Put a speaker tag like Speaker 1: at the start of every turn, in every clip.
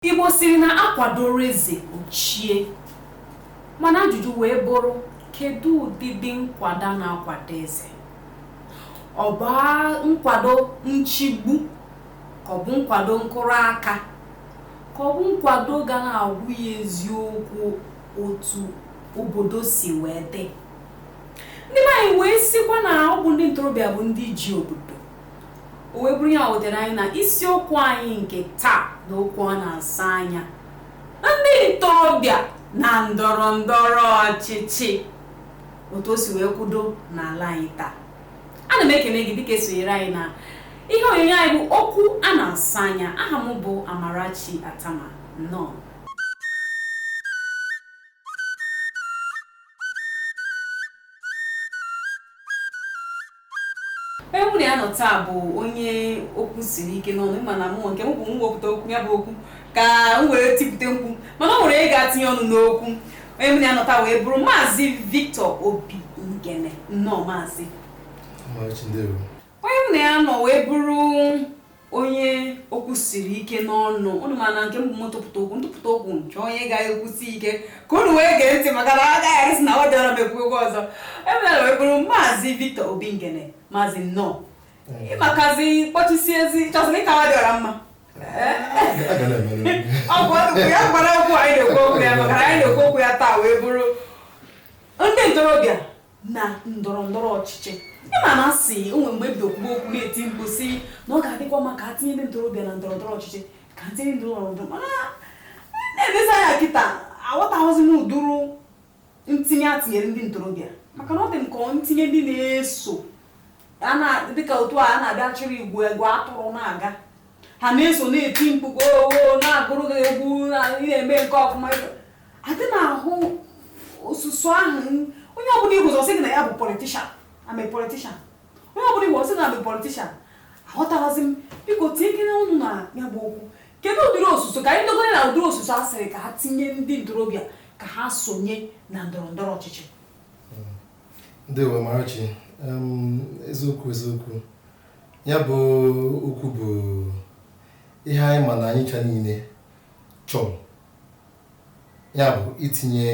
Speaker 1: Igbo sịrị na a kwadoro eze o chie mana ajụjụ wee bụrụ kedu ụdịdị nkwado a na-akwado eze ọ bụ a- nkwado nchigbu ka ọ bụ nkwado nkụrụ aka ka ọ bụ nkwado ga na-agwa ya eziokwu otu obodo si wee dị ndị be anyị wee sịkwa na ọ bụ ndị ntorobịa bụ ndị ji obodo O wee bụrụ ya wetere anyị na isiokwu anyị nke taa na okwu a na-asa anya ndị ntorobịa na ndọrọ ndọrọ ọchịchị otu o si wee kwudo n'ala anyị taa ana m ekele gị dịka i sonyere anyị na ihe onyonyo anyị bụ okwu a na-asa anya aha m bụ Amarachi Atama nnọọ onye mụ na ya nọ taa bụ onye okwu siri ike n'ọnụ ị ma na mụ nke m bụ m wepụta okwu ya bụ okwu ka m wee tipụta mkpu mana o nwere ị ga-atinye ọnụ n'okwu onye mụ na ya nọ taa wee bụrụ maazị Victor Obi Ngene nnọọ maazị
Speaker 2: onye
Speaker 1: mụ na ya nọ wee bụrụ onye okwu siri ike n'ọnụ unu ma na nke m bụ m tụpụta okwu ntụpụta okwu nke onye ga-ekwusi ike ka unu wee gee ntị maka na agaghị arịsị na ọ dịọrọ m ekwu okwu ọzọ onye mụ na ya wee bụrụ maazị Victor Obi Ngene maazị nnọọ ịmakazi kpọchisi ezi chọsịrị ka ọ dị ọra mma ọ bụ ọdụkwu ya gwara okwu anyị na-ekwu okwu ya maka na anyị na-ekwu okwu ya taa wee bụrụ ndị ntorobịa na ndọrọ ndọrọ ọchịchị ị ma na a sị o nwe mgbe ebido kwuo okwu na-eti mkpu sị na ọ ga-adịkwa mma ka a tinye ndị ntorobịa na ndọrọ ndọrọ ọchịchị ka a tinye ndị ndọrọ ndọrọ mana na-elezi anya kịta aghọtaghịzi m ụdịrị ntinye a tinyere ndị ntorobịa maka na ọ dị m ka ntinye ndị na-eso dịka otu a na-abịa chịrị igwe ewu atụrụ na-aga ha na-eso na-eti mkpu goo na-agụrụ gị egwu na-eme nke ọfụma adị m ahụ osuso ahụ onye ọbụla ị hụ ọ sị gị na ya bụ politician I'm a politician onye ọbụla ị hụ ọ sị na I'm a politician aghọtaghịzi m biko tinyekene ọnụ na ya bụ okwu kedu ụdịrị osuso ka anyị dogoro na ụdịrị osuso a sịrị ka ha tinye ndị ntorobịa ka ha sonye na ndọrọ ndọrọ
Speaker 2: ọchịchị ndewo Amarachi eziokwu eziokwu ya bụ okwu bụ ihe anyị ma na anyị ncha niile chọrọ ya bụ itinye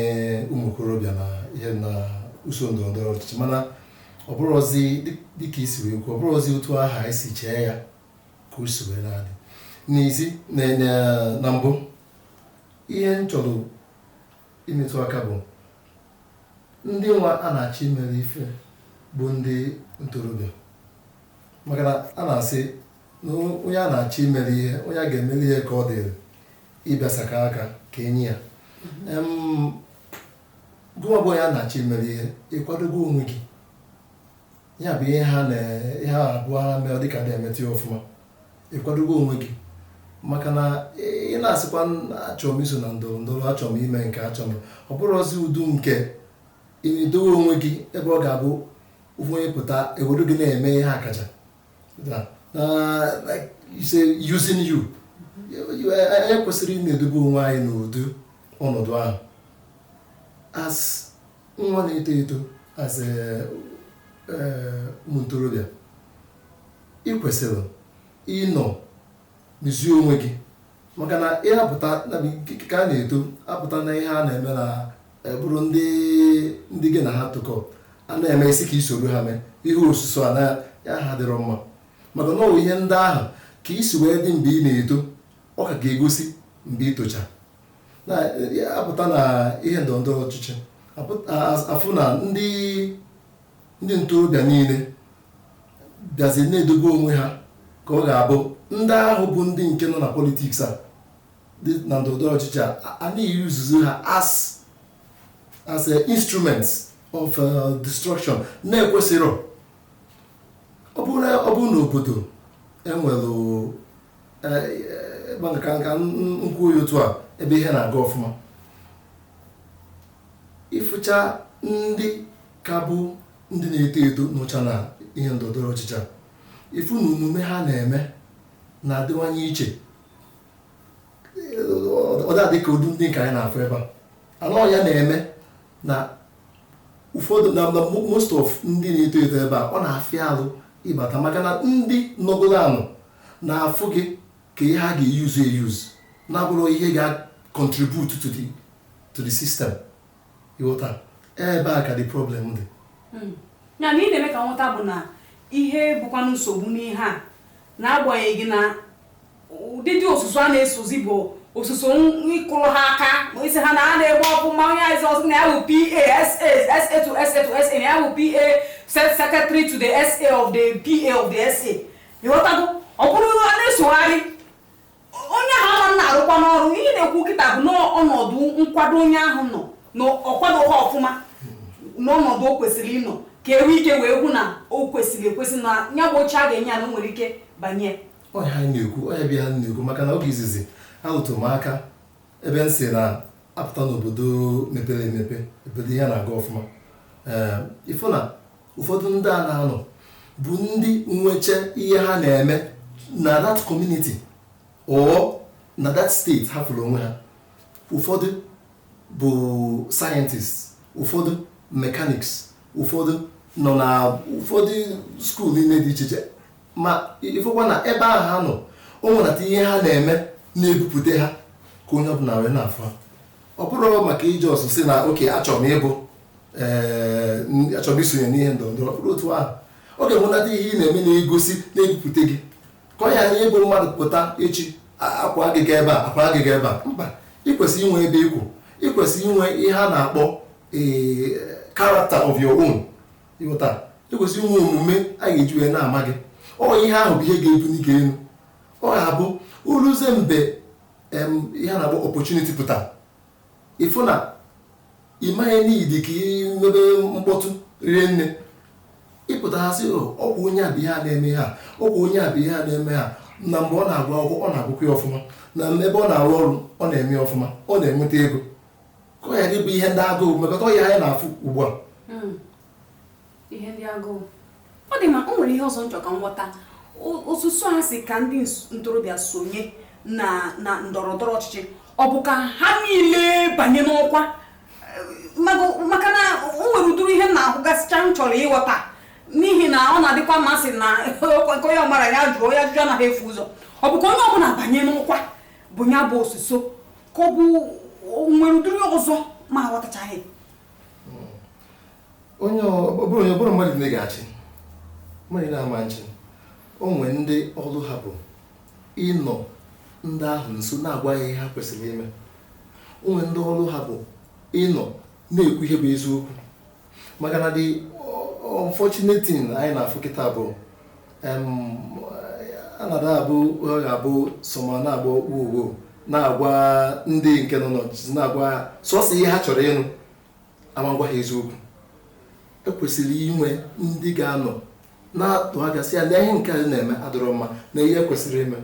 Speaker 2: ụmụ okorobịa na ihe na usoro ndọrọ ndọrọ ọchịchị mana ọ bụrụzi dịka i si wee kwuo ọ bụrọzi otu ahụ anyị si chee ya ka o si wee na-adị n'isi na mbụ ihe m chọrọ imetụ aka bụ ndị nwa a na-achọ imere ife bụ ndị ntorobịa maka na a na-asị na onye a na-achọ imere ihe onye a ga-emere ihe ka ọ dịrị ịgbasakwa aka ka e nye ya Em, gụnwa bụ onye a na-achọ imere ihe ị kwadogo onwe gị ya bụ ihe ha na ihe ha abụọ ha mere dịka na-emeta ya ọfụma ị kwadogo onwe gị maka na ị ị na-asịkwa "Na achọrọ m iso na ndọrọ ndọrọ achọrọ m ime nke a achọrọ m ọ bụrụzi ụdị nke ị na-edowe onwe gị ebe ọ ga-abụ ofu onye pụta ewelu gị na-eme ihe akaja Yeah. Uh, like you say, using you. Anyị kwesịrị ịna-edobe onwe anyị n'ụdị ọnọdụ ahụ. As nwa na-eto eto as eh, eh, ụmụ ntorobịa, ị kwesịrị ịnọ Mezie onwe gị. Maka na ị apụta, ya bụ nke ka a na-eto, apụta na ihe a na-eme na ọ bụrụ ndị ndị gị na ha tokọ a na-eme ị sị ka i soro ha mee ihe osuso a na ya adịrọ mma maka na ọ bụ ihe ndị ahụ ka i si wee dị mgbe ị na-eto ọ ka ga-egosi mgbe ị tochaa pụta na ihe ndọrọ ndọrọ ọchịchị a fụ na ndị Ndị ntorobịa niile bịazi na-edobe onwe ha ka ọ ga-abụ ndị ahụ bụ ndị nke nọ na politics a dị na ndọrọndọrọ ọchịchị a a na-eusezi ha as as a instruments of uh, destruction na ekwesịrọ ọ bụrụ na ọ bụrụ na obodo e nwere ka nka nkwụ oyi otu a ebe ihe na-aga ọfụma ị fụcha ndị ka bụ ndị na-eto eto nọcha na ihe ndọrọndọrọ ọchịchị a ị fụ na omume ha na-eme na-adịwanye iche ọ da adị ka ụdị ndị nke anyị na-afụ ebe a na ọ ya na-eme na ụfọdụ na most of ndị na-eto eto ebe a ọ na-afịa alụ ịbata maka na ndị nọgoro anụ na-afụ gị ka ihe ha ga-euse euse na abụrọ ihe ga-contribute to the to the system ị ghọta ebe a ka the problem dị hmm. ya
Speaker 1: na ị na-eme ka m ghọta bụ na ihe bụkwa nsogbu n'ihe a na-agbanyeghị na ụdịdị osuso a na-esozi bụ osuso ịkụrụ ha aka ma ị sị ha na ha na-eme ọfụma onye asị ọzọ na ya bụ PA SA to SA to SA na ya bụ PA secretary to the SA of the PA of the SA ị ghọtago ọ bụrụ na a na-esogharị onye ahụ a na-arụkwanụ ọrụ ihe m na-ekwu kịta bụ na ọnọdụ nkwado onye ahụ nọ na ọ kwadoghị ọfụma n'ọnọdụ o kwesịrị ịnọ ka e nwee ike wee hụ na o kwesịrị ekwesị na ya bụ oche a ga-enye ya na o nwere ike banye ọ ihe anyị
Speaker 2: na-ekwu ọ ya bụ ihe anyị na-ekwu maka na oge izizi arụtụ m aka ebe m sị na a pụta n'obodo mepere emepe obodo ihe na-aga ọfụma ee ị fụ na ụfọdụ ndị a na-anọ bụ ndị nwecha ihe ha na-eme na that community or na that state ha fụrụ onwe ha ụfọdụ bụ scientists ụfọdụ mechanics ụfọdụ nọ na ụfọdụ school niile dị iche iche ma ị fụkwa na ebe ahụ ha nọ o nwerata ihe ha na-eme na-ebupụta ha ka onye ọbụla wee na-afụ ha ọ bụrọ maka ị just sị na okay achọrọ m ịbụ ee n- achọrọ m isonye n'ihe ndọrọ ndọrọ ọ bụrọ otu ahụ ọ ga-enwetata ihe ị na-eme na-egosi na-ebupụta gị ka ọ ghara ịbụ mmadụ pụta echi a- a kwaa gị gaa ebe a a kwaa gị gaa ebe a mba ị kwesịrị inwe ebe ị kwụ ị kwesịrị inwe ihe a na-akpọ ee character of your own ị ghọta ị kwesịrị inwe omume a ga-eji wee na-ama gị ọ ihe ahụ bụ ihe ga-ebuli gị elu ọ ga-abụ o luzie mgbe ihe a na-akpọ opportunity pụta ị fụ na ị maghị need ka ị mebe mkpọtụ rie nne ị pụta ha sị oh, ọkwa onye a bụ ihe a na-eme ha ọkwa onye a bụ ihe a na-eme ha na mgbe ọ na-agụ akwụkwọ ọ na-agụkwa ya ọfụma na ebe ọ na-arụ ọrụ ọ na-eme ya ọfụma ọ na-enweta ego ka ọ ghara ịbụ ihe ndị agụụ mekọta ọya anyị na-afụ ugbu a hmm.
Speaker 1: ihe ndị agụụ ọ dị mma o nwere ihe ọzọ m chọ ka m ghọta osuso a sị ka ndị ntorobịa sonye na na ndọrọ ndọrọ ọchịchị ọ bụ ka ha niile banye n'ọkwa maka na o nwere ụdịrị ihe m na-ahụgasịcha m chọrọ ịghọta n'ihi na ọ na-adịkwa mma sị na nke onye amarọ ya jụọ onye ajụjụ anaghị efu ụzọ ọ bụ ka onye ọbụla banye n'ọkwa bụ ya bụ osuso ka ọ bụ nwere ụdịrị ọzọ m aghọtachaghị
Speaker 2: onye ọ bụrọ onye ọ bụrọ mmadụ niile ga-achị mmadụ niile ama-achị o nwee ndị ọrụ ha bụ ịnọ ndị ahụ nso na-agwa ha ihe ha kwesịrị ime o nwee ndị ọrụ ha bụ ịnọ na-ekwu ihe bụ eziokwu maka na the unfortunate thing anyị na-afụ kịta bụ anada abụ abụ soma na-agba okpu ugbo na-agwa ndị nke nọ n'ọchịchị na-agwa sọsọ ihe ha chọrọ ịnụ ama-agwa ha eziokwu ekwesịrị inwe ndị ga-anọ na-atụ aka sị ya na ihe nke a na-eme adịrọ mma na ihe ekwesịrị ime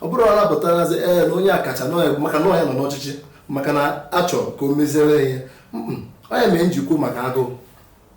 Speaker 2: ọ bụrụ na anapụtarazi ee na onye akacha maka na ọ ya nọ n'ọchịchị maka na achọ ka o meziere ihe onye mee njikwu maka agụụ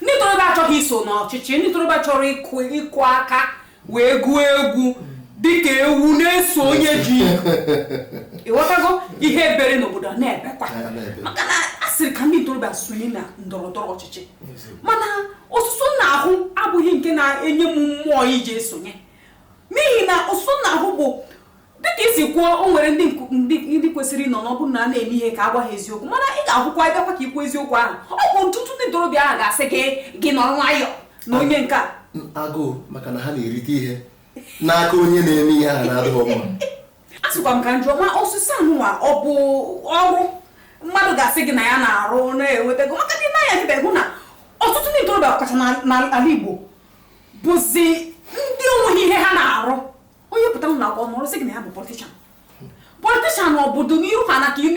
Speaker 1: ndị ntorobịa achọghị iso n'ọchịchị ndị ntorobịa chọrọ ịkụ ịkụ aka wee gụọ egwu dịka ewu na-eso onye ji ị ghọtago ihe e bere n'obodo a na-ebekwa ya na-ebe. maka na a sịrị ka ndị ntorobịa sonye na ndọrọ ndọrọ ọchịchị mana osuso m na-ahụ abụghị nke na-enye m mmụọ iji esonye n'ihi na osuso m na-ahụ bụ dịka isi kwuo o nwere ndị nku- ndị ndị kwesịrị ịnọ na ọ bụ na a na-eme ihe ka a gwa ha eziokwu mana ị ga-ahụkwa ị bịakwa ka i kwuo eziokwu ahụ ọ bụ ọtụtụ ndị ntorobịa ahụ ga-asị gị gị nọrọ nwayọọ na onye nke a agụụ maka
Speaker 2: na ha na-erite ihe n'aka onye na-eme ihe ahụ na-adịghị mma asịkwa m
Speaker 1: ka m jụọ ma ọchịchị anụnwa ọ bụ ọrụ mmadụ ga-asị gị na ya na-arụ na-enweta ego maka ndị na-anya dịbe hụ na ọtụtụ ndị ntorobịa ọkacha na- n'ala Igbo bụzi ndị onweghị ihe ha na-arụ onye pụta ụlọ akwụkwọ mụrụ sị gị na ya bụ politician politician ọ bụ n'iru ha na ka ị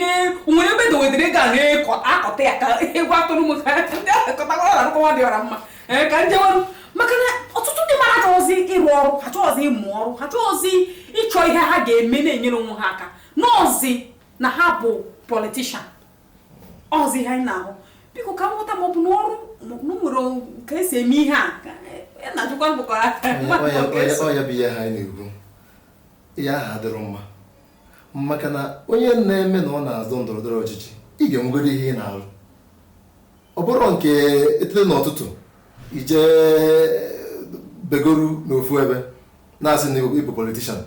Speaker 1: nwere ebe dowedere ga na-akọta ya ka egwu atụrụ m ka ndị akọtawa ọra nkọwa dị ọra mma eh, ka njewarụ maka na ọtụtụ ndị mmadụ achọghịzi ịrụ ọrụ ha achọghịzi ịmụ ọrụ ha achọghịzi ịchọ ihe ha ga-eme na-enyere onwe ha aka n'ọzi na ha bụ politician ọzi ihe anyị na-ahụ biko ka m ghọta ma ọ bụ n'ọrụ ma ọ bụ nwere ka esi eme ihe a e, na-ajụkwa mgbakọ
Speaker 2: ọ ya bụ ihe a anyị na-ekwu ihe ahụ adịrọ mma maka na onye na-eme na ọ na-azọ ndọrọ ndọrọ ọchịchị ị ga-enwegodu ihe ị na-alụ ọ bụrọ nke e teta n'ụtụtụ i je begoru n'ofu ebe na-asị na ị bụ politician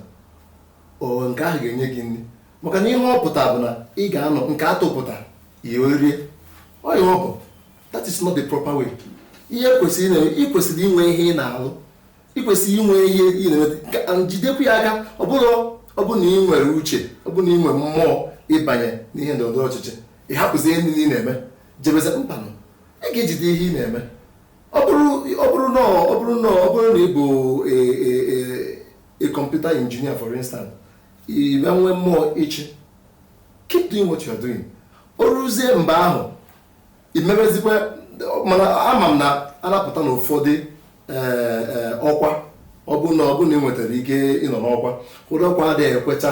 Speaker 2: O, nke ahụ ga-enye gị nri. Maka na ihe ọ pụtara bụ na ị ga-anọ nke a tụpụta, i wee rie. Ọ ihe ọ bụ. That is not the proper way. Ihe e kwesịrị ime, i kwesịrị inwe ihe ị na-alụ. I kwesịrị inwe ihe ị na-eme. Ka- and Jidekwu ya aka, ọ bụrụ ọ bụrụ na ị nwere uche, ọ bụrụ na ị nwere mmụọ ịbanye n'ihe ndọrọ ndọrọ ọchịchị, ị hapụzie ihe niile ị na-eme, jebezie mbanụ. Ị ga-ejide ihe ị na-eme. Ọ bụrụ ọ bụrụ na ọ bụrụ na ọ bụrụ na ị bụ e- e- e- a computer engineer for instance i wee nwee mmụọ ịchị keep doing what you are doing o ruzie mgbe ahụ i mebezikwa mana ama m na anapụta na ụfọdụ eh, eh, ọkwa ọ bụ na ọ bụ na ị nwetara ike ịnọ n'ọkwa ụdị ọkwa adịghị ekwecha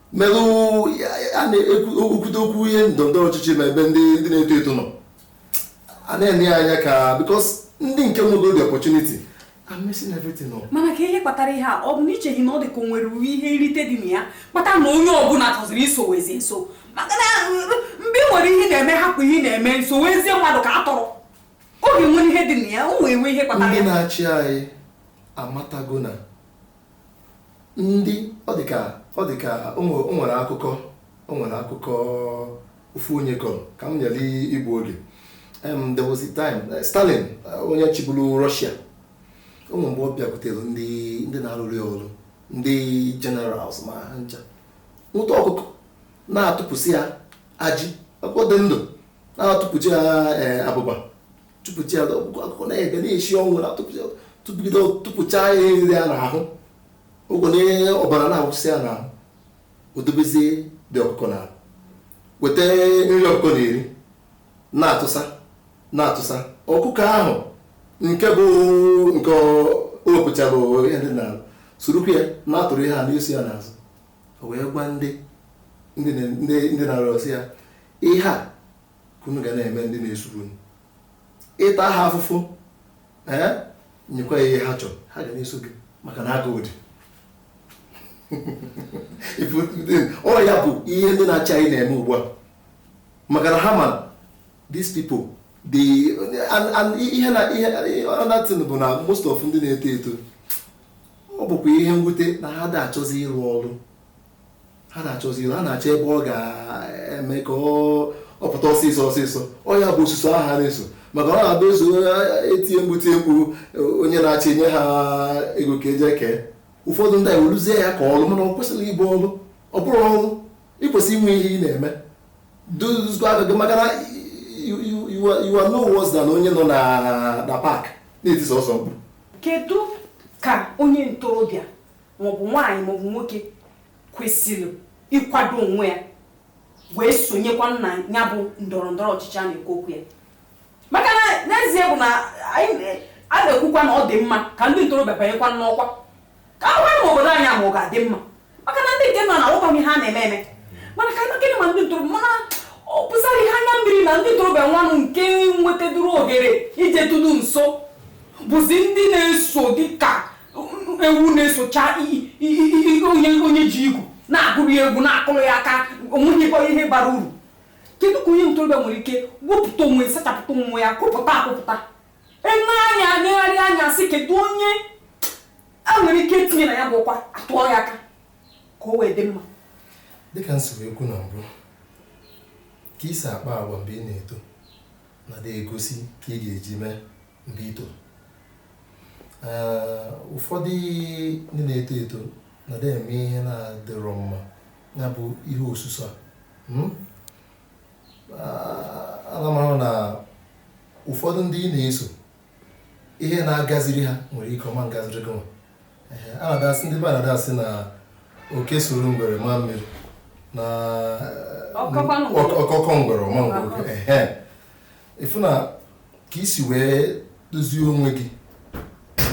Speaker 2: merụ a na-ekwute okwu ihe ndọrọ ọchịchị ma ebe ndị na-eto eto nọ a na-ene ya anya ka because ndị nke nwego the opportunity mana ka ihe kpatara ihe a
Speaker 1: ọ bụ na i cheghị na ọ dị ka o nwere ihe nrite dị na ya kpata na onye ọbụla chọziri isowezi nso maka na mgbe ị nwere ihe ị na-eme hapụ ihe ị na-eme sowezie mmadụ ka atụrụ ọ ga-enwere ihe dị na ya o wee nwee ihe kpatara ndị na-achị anyị
Speaker 2: amatago na ndị ọ dị ka ọ dị ka o nwe- o nwere akụkọ o nwere akụkọ ofu onye kọrọ ka m ghara igbu oge Em, there was a time eh, Stalin eh, onye chịburu Russia o nwere mgbe ọ bịakwutere ndị ndị na-arụrụ ya ọrụ ndị generals ma ha ncha nwụta ọkụkọ na-atụpụsị ya ajị ọkụkọ dị ndụ na-atụpụsị ya eh, abụba tụpụcha ya ọkụkọ ọkụkọ na-ebe na-esi ọnwụ na-atụpụgide tụpụcha ihe dị ya n'ahụ ụgwọ na ihe ọbara na-awụsị ya n'ahụ o dobezie the ọkụkọ na weta nri ọkụkọ na-eri na-atụsa na-atụsa ọkụkọ ahụ nke bụ nke o wepụchara ihe dị n'ahụ sorokwu ya na-atụrụ ihe a na-eso ya n'azụ o wee gwa ndị ndị na-arụsị ya ihe a ka unu ga na-eme ndị na-eso unu ị ta ha afụfụ ee nyekwa ha ihe ha chọrọ ha ga na-eso gị maka na agụụ dị ọ ya bụ ihe ndị na-achị anyị na-eme ugbu a maka na ha ma these people the and and ihe na ihe another thing bụ na most of ndị na-eto eto ọ bụkwa ihe mwute na ha da achọzi ịrụ ọrụ ha da achọzi ha na-achọ ebe ọ ga-eme ka ọ pụta ọsịsọ ọsịsọ ọ ya bụ osuso ahụ ha na-eso maka ọ na-abụ e so e tie mkpu tie mkpu onye na-achị nye ha ego ka e je kee ụfọdụ ndị ewelụzie ya ka ọlụ mana o kwesịrọ ịbụ ọlụ ọ bụrọ ọlụ i kwesị inwe ihe ị na-eme dozgo aka gị maka na you are no worse than onye nọ na park na-eti sọọsọ mkpu kedu
Speaker 1: ka onye ntorobịa maọbụ nwaanyị maọbụ nwoke kwesịrị ịkwado onwe ya wee sonyekwa na ya bụ ndọrọ ndọrọ ọchịchị a na-ekwu okwu ya maka na n'ezie bụ na a na-ekwukwa na ọ dị mma ka ndị ntorobịa banyekwa n'ọkwa ka a hụkwa ma obodo anyị ma ọ ga-adị mma maka na ndị nke nọ na onweghị ihe ha na-eme eme mana ka gịnị ma ndị ntorobịa mana ọ bụzịrị ihe anya mmiri na ndị ntorobịa nwanụ nke nwetaduru ohere ijetụlu nso bụzi ndị na-eso dịka ewu na-esocha onye ji igu na-agụrụ ya egwu na-akụrụ ya aka onweghịkwa ihe bara uru kedu ka onye ntorobịa nwere ike wepụta onwe sachapụta onwe ya kwụpụta akwụpụta e nee anya negharịa anya sị kedu onye e nwere ike tinye na ya bụ ọkwa a tụọ ya aka ka o wee dị mma dịka
Speaker 2: m siri ekwu na mbụ ka i si akpa agwa mgbe ị na-eto na-egosi ka ị ga-eji mee mgbe i too ụfọdụ ndị na-eto eto na da eme ihe na-adịrọ mma ya bụ ihe osuso a hmm? ana m ahụ na ụfọdụ ndị ị na-eso ihe na-agaziri ha nwere ike ọ ma ngaziri gị nwa a na-adasị ndị be anyị na-adasị na oke soro ngwere maa mmiri na ọ kọkọọ ngwere ọ ma nkọ oke ịfụ na ka i si wee dozie onwe gị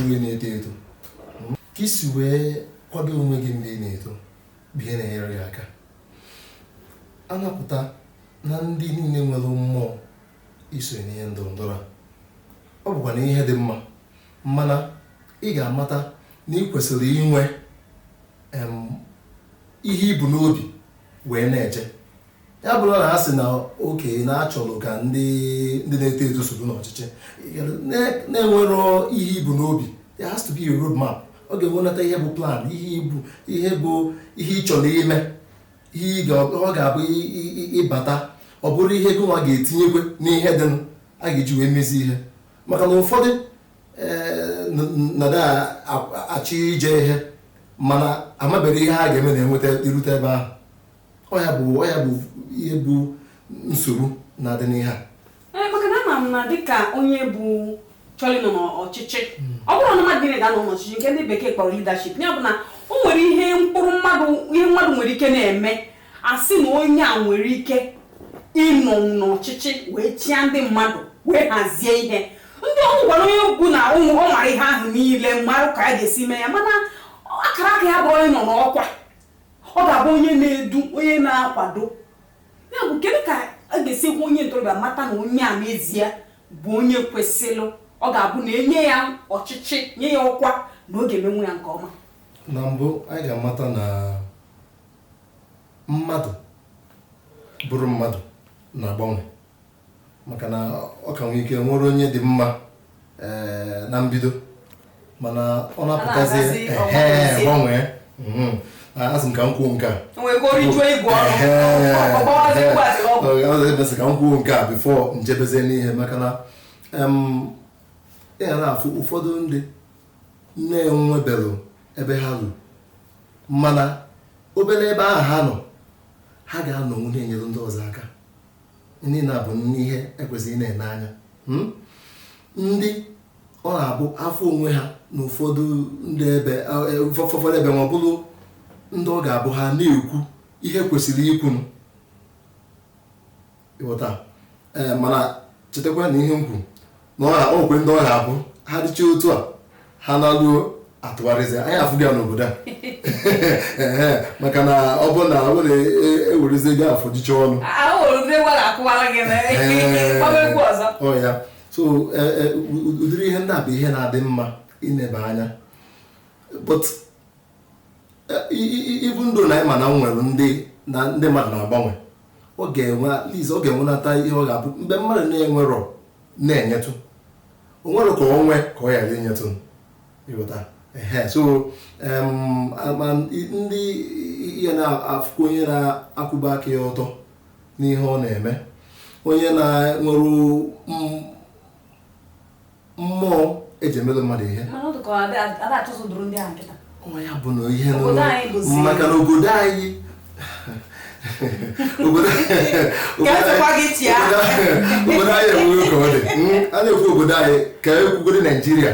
Speaker 2: mgbe ị na-eto eto ka i si wee kwado onwe gị mgbe ị na-eto bụ ihe na-enyere gị aka a na-afụta na ndị niile nwere mmụọ iso n'ihe ndọrọ ndọrọ a ọ bụkwanụ ihe dị mma mana ị ga-amata na ị kwesịrị inwe ihe i bu n'obi wee na-eje ya abụla na a sị na okay na a chọrọ ka ndị ndị na-eto eto soro n'ọchịchị na-enwero ihe i bu n'obi there has to be a road map ọ ga-enwenata ihe bụ plan ihe i bu ihe bụ ihe ị chọrọ ime ihe ọ ga-abụ ị bata ọ bụrụ ihe gị nwa ga-etinyekwe n'ihe dịnụ a ga-eji wee mezi ihe maka na ụfọdụ eh, na-adị achọ ije ihe mana amabere ihe ha ga-eme na-enweta irute ebe ahụ ọ ya bụ ọ ya bụ ihe bụ nsogbu na-adị n'ihe a Ee, maka na ama
Speaker 1: m na dịka onye bụ chọrọ ịnọ n'ọchịchị ọ bụrọ na mmadụ niile ga-anọ n'ọchịchị nke ndị bekee kpọrọ leadership ya bụ na o nwere ihe mkpụrụ mmadụ ihe mmadụ nwere ike na-eme a sị na onye a nwere ike ịnọ n'ọchịchị wee chịa ndị mmadụ wee hazie ihe ndị o nwekwara onye ọ bụ na ọ mara ihe ahụ niile mara ka a ga-esi mee ya mana akara aka ya abụrọ ịnọ n'ọkwa ọ ga-abụ onye na-edu onye na-akwado ya bụ kedu ka a ga-esi hụ onye ntorobịa mata na onye a n'ezie bụ onye kwesịrị ọ ga-abụ na e nye ya ọchịchị nye ya ọkwa na ọ ga-emenwu ya nke ọma na
Speaker 2: mbụ anyị ga-amata na mmadụ bụrụ mmadụ na-agbanwe maka na ọ ka nwee ike nwere onye dị mma eh, na mbido mana ọ na-apụtazi gbanwee mhm. asị m ka m kwuo nke a emesị ka m kwuo nke a before m jebezie n'ihe maka na ị ga na-afụ ụfọdụ ndị na-enwebelụ ebe ha lụ mana obere ebe ahụ ha nọ ha ga-anọnwu na-enyere ndị ọzọ aka ndị na-abụ n'ihe e kwesịrị ịna-ene anya hmm? ndị ọ na-abụ afọ onwe ha na ụfọdụ ndị ebe e, ụfọdụ ebe ma ọ bụrụ ndị ọ ga-abụ ha na-ekwu ihe kwesịrị ikwu ị ghọta eh, mana chetakwa na ihe m kwuru na ọ na- o nwekwe ndị ọ na-abụ ha dịcha otu a ha na-alụo atụgharịzi anyị afụgo ya n'obodo a Ehe, maka na ọ bụ na ọ bụrụ e werezi ego afọ jicha ọnụ ya so e, e, u- u- ụdịrị ihe ndị a bụ ihe na-adị mma ineba anya but ibu ndụ na ịma na m nwere ndị na ndị mmadụ na-agbanwe ọ ga-enwe at least ọ ga-enwenata ihe ọ ga-abụ mgbe mmadụ na-enwerọ na-enyetụ o nwere ka o nwee ka ọ ghara inyetụ ị ghọta ehe so em, a- ma ndị ihe na-afụkwa onye na-akwụba aka ya ọtọ n'ihe ọ na-eme onye na-enwere m- mmụọ e ji emere mmadụ ihe ya bụ na ihe maka na obodo anyị obodo anyị enweghị ka ọ dị hmm? a na-ekwu obodo anyị ka e kwugoro naijiria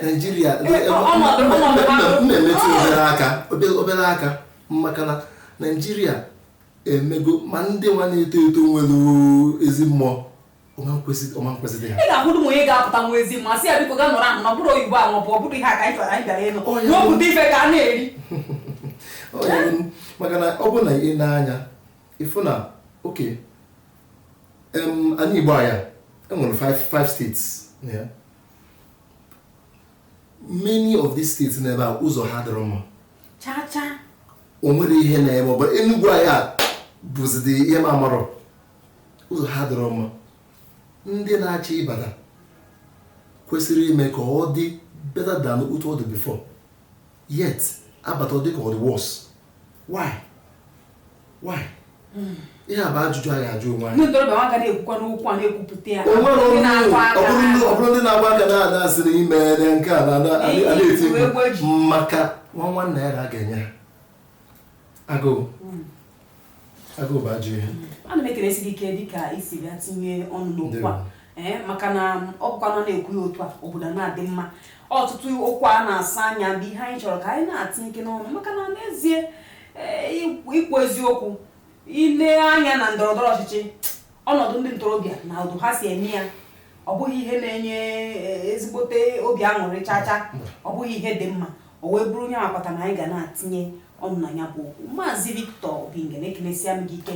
Speaker 2: naijiria na-emetụ obere aka maka na naijiria emego ma ndị nwa na-eto eto nwere ezi mmụọ ọma nkwesịrị ha ị ga-ahụrụ m
Speaker 1: onye
Speaker 2: ga-apụta
Speaker 1: nwa ezi mma sị ya biko ga nọrọ ahụ na bụrụ oyibo ahụ bụ ọ bụrụ ihe a ka anyị chọrọ anyị bịara ịnụ
Speaker 2: n'obodo ife ka a na-eri maka na ọ bụrụ na i nee anya ị fụ na okay anị igbo anyị a e nwere 5 states many of these states n'ebe a ụzọ ha dịrọ mma o nwere ihe na-eme ọ bụ enugwu anyị a bụzidi ihe m amarọ ụzọ ha dịrọ mma ndị na-achị ịbata kwesịrị ime ka ọ dị better than otu ọ dị before yet a bata ọ dị ka ọ dị worse why? ihe a bụ ajụjụ anyị ajụ onwe anyị ọ bụrụ ndị na-agba aka na-ada asị na ime na nke a na-eti maka nwa nwanna ya ga-enye agụụ hmm. agụụ bụ ajọ
Speaker 1: ihe ana m ekelesi gị ike dịka i si bịa tinye ọnụ n'okwu a ee eh, maka na um, ọ bụkwanụ a na-ekwu ya otu a obodo ana-adị mma ọtụtụ okwu a na-asa anya bụ ihe anyị chọrọ ka anyị na-atinyekene ọnụ maka na n'ezie eh, ikwu eziokwu i lee anya na ndọrọ ndọrọ ọchịchị ọnọdụ ndị ntorobịa na otu ha si eme ya ọ bụghị ihe na-enye eh, ezigbote obi aṅụrị chacha ọ bụghị ihe dị mma o wee bụrụ ihe kpata na anyị ga na-atinye ọnụ na ya bụ okwu maazị Victor Obingene ekenesia m gị ike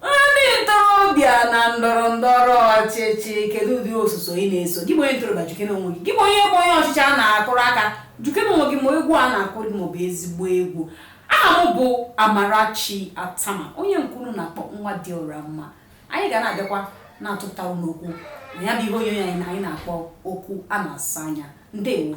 Speaker 1: Ndị ntorobịa na ndọrọ ndọrọ ọchịchị kedu ụdị osuso ị na-eso gị bụ onye ntorobịa jụkene onwe gị gị bụ onye bụ onye ọchịchị a na-akụrụ aka jụkene onwe gị ma egwu a na-akụrụ gị ma ọ bụ ezigbo egwu aha m bụ Amarachi Atama onye nke unu na-akpọ nwa dị ọra mma anyị ga na-abịakwa na-atụpụta unu okwu na ya bụ ihe onyonyo anyị a anyị na-akpọ okwu a na-asa anya ndewo